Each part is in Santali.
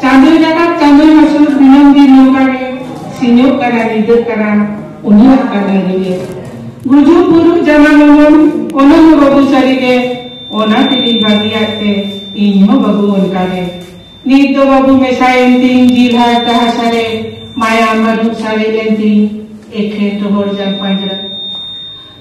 ᱪᱟᱸᱫᱚ ᱡᱟᱠᱟᱛ ᱪᱟᱸᱫᱚ ᱦᱟᱹᱥᱩᱨ ᱫᱤᱱᱟᱹᱢ ᱫᱤᱱ ᱱᱚᱝᱠᱟ ᱜᱮ ᱥᱤᱧᱚᱜ ᱠᱟᱱᱟ ᱧᱤᱫᱟᱹᱜ ᱠᱟᱱᱟ ᱩᱱᱤᱭᱟᱜ ᱠᱟᱹᱢᱤ ᱨᱮᱜᱮ ᱜᱩᱡᱩᱜ ᱵᱩᱨᱩᱜ ᱡᱟᱱᱟ ᱢᱚᱢᱚᱱ ᱚᱱᱟ ᱦᱚᱸ ᱵᱟᱹᱵᱩ ᱥᱟᱹᱨᱤ ᱜᱮ ᱚᱱᱟ ᱛᱮᱜᱮᱧ ᱵᱟᱹᱜᱤᱭᱟᱫ ᱛᱮ ᱤᱧ ᱦᱚᱸ ᱵᱟᱹᱵᱩ ᱚᱱᱠᱟ ᱜᱮ ᱱᱤᱛ ᱫᱚ ᱵᱟᱹᱵᱩ ᱢᱮᱥᱟᱭᱮᱱ ᱛᱤᱧ ᱡᱤᱞ ᱦᱟᱨ ᱛᱟᱦᱟ ᱥᱟᱨᱮ ᱢᱟᱭᱟᱢ ᱵᱟᱹᱱᱩᱜ ᱥᱟᱨᱮᱡ ᱮᱱ ᱛᱤᱧ ᱮᱠᱷᱮᱱ ᱨᱚᱦᱚᱲ ᱡᱟᱝ ᱯᱟᱸᱡᱨᱟ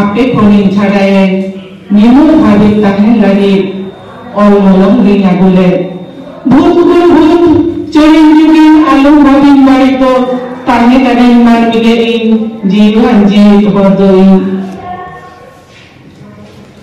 ᱟᱯᱮ ᱠᱚᱨᱮᱱ ᱪᱷᱟᱰᱟᱭᱮᱱ ᱧᱤᱢᱩᱨ ᱦᱟᱹᱵᱤᱡ ᱛᱟᱦᱮᱱ ᱞᱟᱹᱜᱤᱫ ᱚᱞ ᱢᱚᱞᱚᱝ ᱨᱤᱧ ᱟᱹᱜᱩ ᱞᱮᱫ ᱵᱷᱩᱛ ᱜᱩᱨ ᱵᱷᱩᱛ ᱪᱚᱨᱤᱱ ᱡᱩᱜᱤᱱ ᱟᱞᱚᱢ ᱵᱷᱟᱹᱵᱤᱧ ᱵᱟᱹᱲᱤᱡ ᱫᱚ ᱛᱟᱦᱮᱸ ᱠᱟᱹᱱᱟᱹᱧ ᱢᱟᱹᱱᱢᱤ ᱜᱮ ᱤᱧ ᱡᱤᱣᱤᱣᱟᱱ ᱡᱤᱣᱤᱫ ᱦᱚᱲ ᱫᱚ ᱤᱧ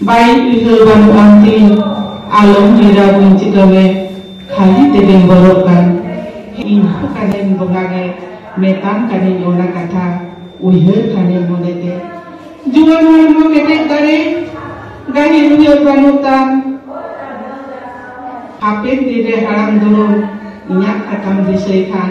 ᱵᱟᱭ ᱩᱭᱦᱟᱹᱨ ᱵᱟᱹᱱᱩᱜ ᱟᱱ ᱛᱤᱧ ᱟᱞᱚᱢ ᱦᱟᱹᱭᱨᱟ ᱵᱟᱹᱧ ᱪᱤᱠᱟᱹᱣᱮ ᱠᱷᱟᱹᱞᱤ ᱛᱮᱜᱮᱢ ᱵᱚᱞᱚᱜ ᱠᱟᱱ ᱦᱮᱸ ᱤᱧ ᱦᱚᱸ ᱠᱟᱹᱱᱟᱹᱧ ᱵᱚᱸᱜᱟ ᱜᱮ ᱢᱮᱛᱟᱢ ᱠᱟᱹᱱᱟᱹᱧ ᱚᱱᱟ ᱠᱟᱛᱷᱟ ᱩᱭᱦᱟᱹᱨ ᱠᱷᱟᱱᱮᱢ ᱢᱚᱱᱮ ᱛᱮ ᱡᱩᱣᱟᱹᱱ ᱦᱚᱲᱢᱚ ᱠᱮᱴᱮᱡ ᱫᱟᱲᱮ ᱜᱟᱹᱦᱤᱨ ᱩᱭᱦᱟᱹᱨ ᱵᱟᱹᱱᱩᱜ ᱛᱟᱢ ᱦᱟᱯᱮᱱ ᱫᱤᱱ ᱨᱮ ᱦᱟᱲᱟᱢ ᱫᱩᱲᱩᱢ ᱤᱧᱟᱹᱜ ᱠᱟᱛᱷᱟᱢ ᱫᱤᱥᱟᱹᱭ ᱠᱷᱟᱱ